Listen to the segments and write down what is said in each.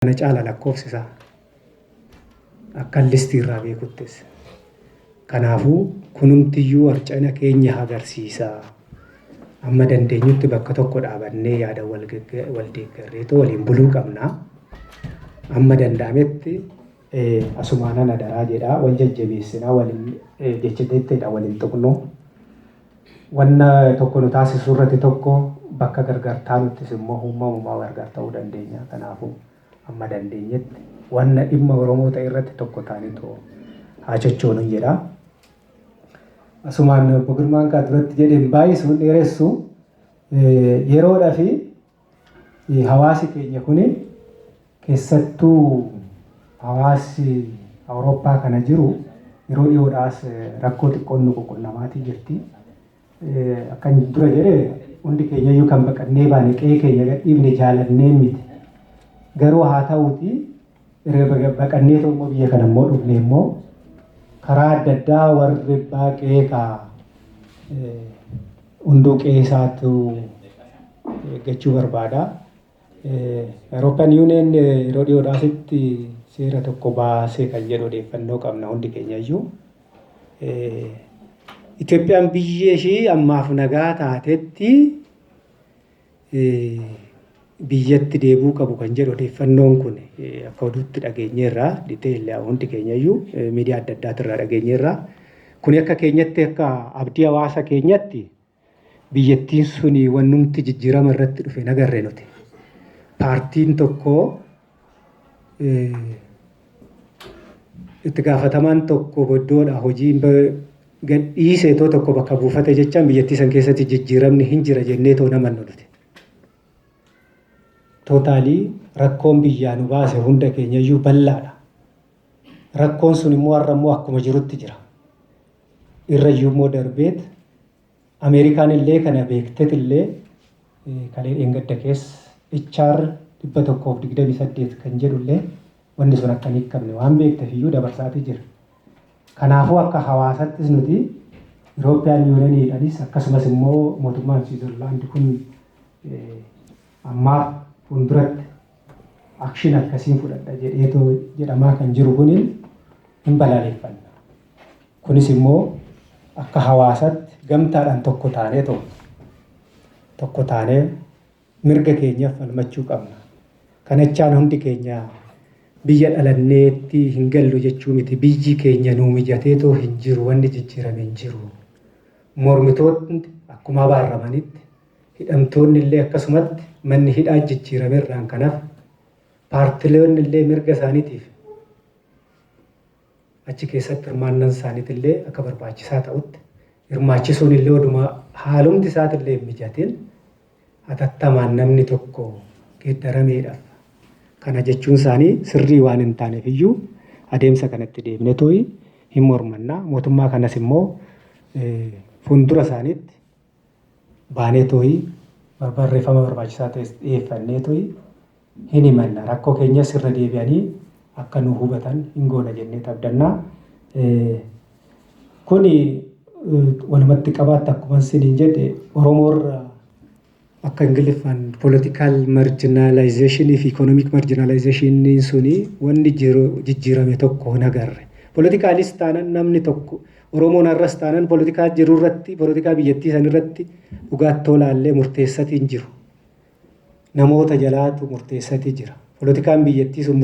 kana caala lakkoofsi isaa akkan listii irraa beekuttis. Kanaafuu kunumtiyyuu harca'ina keenya agarsiisa. Amma dandeenyutti bakka tokko dhaabannee yaada wal deeggarreetoo waliin buluu qabna. Amma danda'ametti asumaanan adaraa jedhaa wal jajjabeessinaa waliin jecha jettedha waliin tuqnu. Wanna tokko nu taasisu irrati tokko bakka gargar taanuttis immoo humma umumaa gargar ta'uu dandeenya. Kanaafu amma dandeenyetti wanna dhimma Oromoo ta'e irratti tokko taanitoo haa chochoonun jedha. Asumaan Obbo Girmaan kaa duratti jedhe hin baay'isu hin dheeressu yeroodha fi Hawaasi keenya kun keessattuu hawaasi Awurooppaa kana jiru yeroo dhiyoodhaa as rakkoo xiqqoon nu ququnnamaatii jirti. Akkan dura jedhe hundi keenyayyuu kan baqannee baane qe'ee keenya gadhiifne jaalannee miti. Garuu haa ta'uutii Erga baqannee immoo biyya kana immoo dhufne immoo karaa adda addaa warri abbaa qe'ee kaa hunduu qe'ee isaatu eeggachuu barbaada. Eurooppiyaan Yuuniyeen yeroo dhiyoodhaasitti seera tokko baasee kan jedhu odeeffannoo qabna hundi keenya iyyuu. Itoophiyaan biyya ishii ammaaf nagaa taatetti biyyatti deebuu qabu kan jedhu odeeffannoon kun akka oduutti dhageenyeerra detail hundi keenyayyuu miidiyaa adda addaatirraa dhageenyeerra. Kuni akka keenyatti akka abdii hawaasa keenyatti biyyattiin suni wannumti jijjiirama irratti dhufe nagarre nuti. Paartiin tokko itti gaafatamaan tokko iddoodha hojiin gadhiise itoo tokko bakka buufate jechaan biyyattii san keessatti jijjiiramni hin jira jennee too naman nuti. Tootaalii rakkoon biyyaa nu baase hunda keenyayyuu bal'aadha. Rakkoon sun immoo har'a immoo akkuma jirutti jira. Irrayyuu immoo darbeet Ameerikaan illee kana beektet illee kalee dheengadda keessa HR 128 kan jedhu illee wanni sun akka hin hiikamne waan beektef iyyuu dabarsaatii jira. Kanaafuu akka hawaasattis nuti Irooppiyaan yuuneniidhanis akkasumas immoo mootummaan Siwiizerlaandi kun ammaaf fuulduratti akshin akkasiin fudhadha jedheetoo jedhamaa kan jiru kuniin hin balaaleffanna. Kunis immoo akka hawaasatti gamtaadhaan tokko taanee too tokko taanee mirga keenyaaf falmachuu qabna. Kanachaan hundi keenya biyya dhalanneetti hin gallu jechuu miti. Biyyi keenya nuu mijatee too hin jiru wanni jijjiirame hin jiru. Mormitootni akkuma abaarramanitti hidhamtoonni illee akkasumatti manni hidhaa jijjiirame irraan kanaaf paartiloonni illee mirga isaaniitiif Achi keessatti hirmaannan isaanitillee akka barbaachisaa ta'utti hirmaachisuunillee oduma haalumti isaatillee hin mijatin hatattamaan namni tokko geeddarameedhaf kana jechuun isaanii sirrii waan hin taaneef iyyuu adeemsa kana itti deebinetooyi hin mormanna. Mootummaa kanas immoo fuundura isaaniitti baanee tooyi barreeffama barbaachisaa ta'es dhiyeeffannee tooyi hin himanna. Rakkoo keenyas irra deebi'anii akka nu hubatan hin goona jennee tabdanna. Kuni walumatti qabaatti akkuma isiniin jedhe Oromoo irra akka Ingiliffaan political marginalization fi economic marginalization suni wanni jijjiirame tokko hin agarre. Politikaalis taanan namni tokko Oromoon har'as taanan politikaa jiru irratti, politikaa biyyattii san irratti dhugaattoo laallee murteessatii hin jiru. Namoota jalaatu murteessatii jira. Politikaan biyyattii sun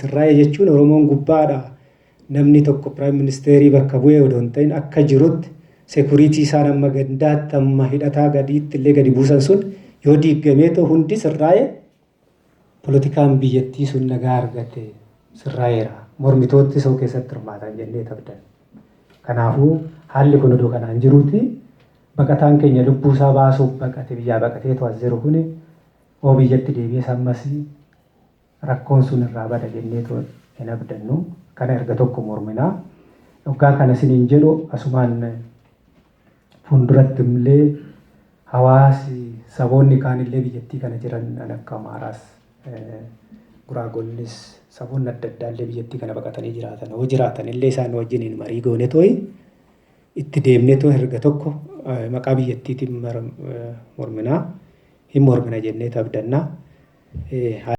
sirraa'e jechuun Oromoon gubbaadha namni tokko piraayim ministeerii bakka bu'ee odoo hin ta'in akka jirutti sekuriitii isaan amma gandaatti amma hidhataa gadiitti illee gadi buusan sun yoo diiggamee ta'u hundi sirraa'e Polotikaan biyyattii sun nagaa argate sirraa'eera. Mormitootni soo keessatti hirmaatan jennee tabdan. Kanaafuu haalli kun odoo kanaan jiruuti baqataan keenya lubbuu isaa baasuuf baqate biyyaa baqateetu as jiru kuni oo biyyatti deebi'es ammas rakkoon sun irraa bada jenneetu hin abdannu. Kana erga tokko mormina. Dhoggaa kana siniin jedhu asumaan Fuulduratti illee hawaasi saboonni kaan illee biyyattii kana jiran kan akka Amaaraas, Guraagoonnis, saboonni adda addaa illee biyyattii kana baqatanii jiraatan yoo jiraatan illee isaan wajjiniin marii goone tooyi itti deemnee too erga tokko maqaa biyyattiitiin morminaa hin mormina jennee tabdannaa.